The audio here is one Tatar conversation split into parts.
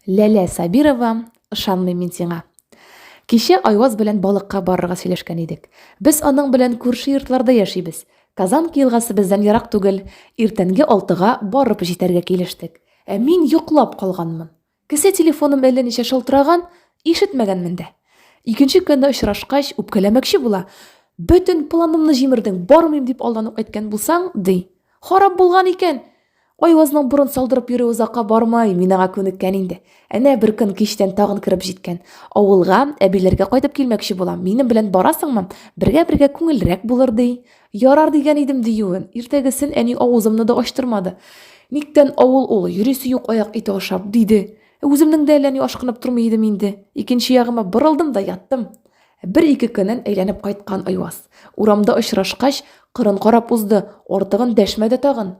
Ләлә Сабирова, ышанмыйм мин сиңа. Кичә Айваз белән балыкка барырга сөйләшкән идек. Без аның белән күрше йортларда яшибез. Казанки елгасы бездән ерак түгел. Иртәнге алтыга барып җитәргә килештек. Ә мин йоклап калганмын. Кесә телефоным әллә ничә шылтыраган, ишетмәгәнмен дә. Икенче көнне очрашкач, үпкәләмәкче була. Бөтен планымны җимердең, бармыйм дип алдан ук әйткән булсаң, ди. Харап булган икән! Айвазның борын салдырып йөрү озакка бармай, мин аңа күнеккән инде. Әнә бер көн кичтән тагын кереп җиткән. Авылга, әбиләргә кайтып килмәкче булам. Минем белән барасыңмы? Бергә-бергә күңелрәк булыр, ди. Ярар дигән идем диюен. Иртәгесен әни авызымны да ачтырмады. Никтән авыл ул, йөрисе юк аяк ите ашап, диде. Үземнең дә әллә ни ашкынып тормый идем инде. Икенче ягыма борылдым да яттым. Ә бер-ике көннән әйләнеп кайткан Айваз, урамда очрашкач, кырын карап узды, артыгын дәшмәде тагын.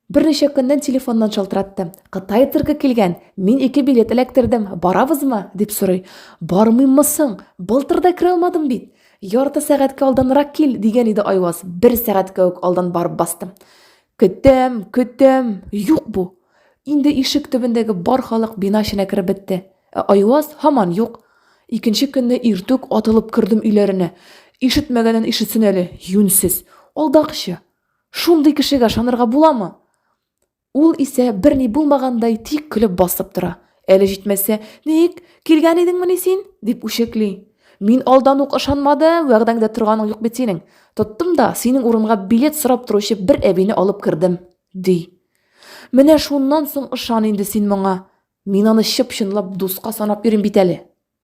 Берничә көннән телефоннан шалтыратты. Кытай циркы килгән, мин ике билет эләктердем, барабызмы? дип сорый. Бармыйммы соң? Былтыр да керә алмадым бит! Ярты сәгатькә алданрак кил, дигән иде Айваз, бер сәгатькә үк алдан барып бастым. Көтәм, көтәм! Юк бу! Инде ишек төбендәге бар халык бина эченә кереп бетте. Ә Айваз һаман юк. Икенче көнне иртүк атылып кердем өйләренә. Ишетмәгәнен ишетсен әле, юньсез. Алдакчы! Шундый кешегә ышанырга буламы? Ул исә берни булмагандай тик көлеп басып тора. Әле җитмәсә, ник, килгән идеңмени син? дип үчекли. Мин алдан ук ышанмадым, вәгъдәңдә торганың юк бит синең. Тоттым да, синең урынга билет сорап торучы бер әбине алып кердем, ди. Менә шуннан соң ышан инде син моңа. Мин аны чып-чынлап дуска санап йөрим бит әле.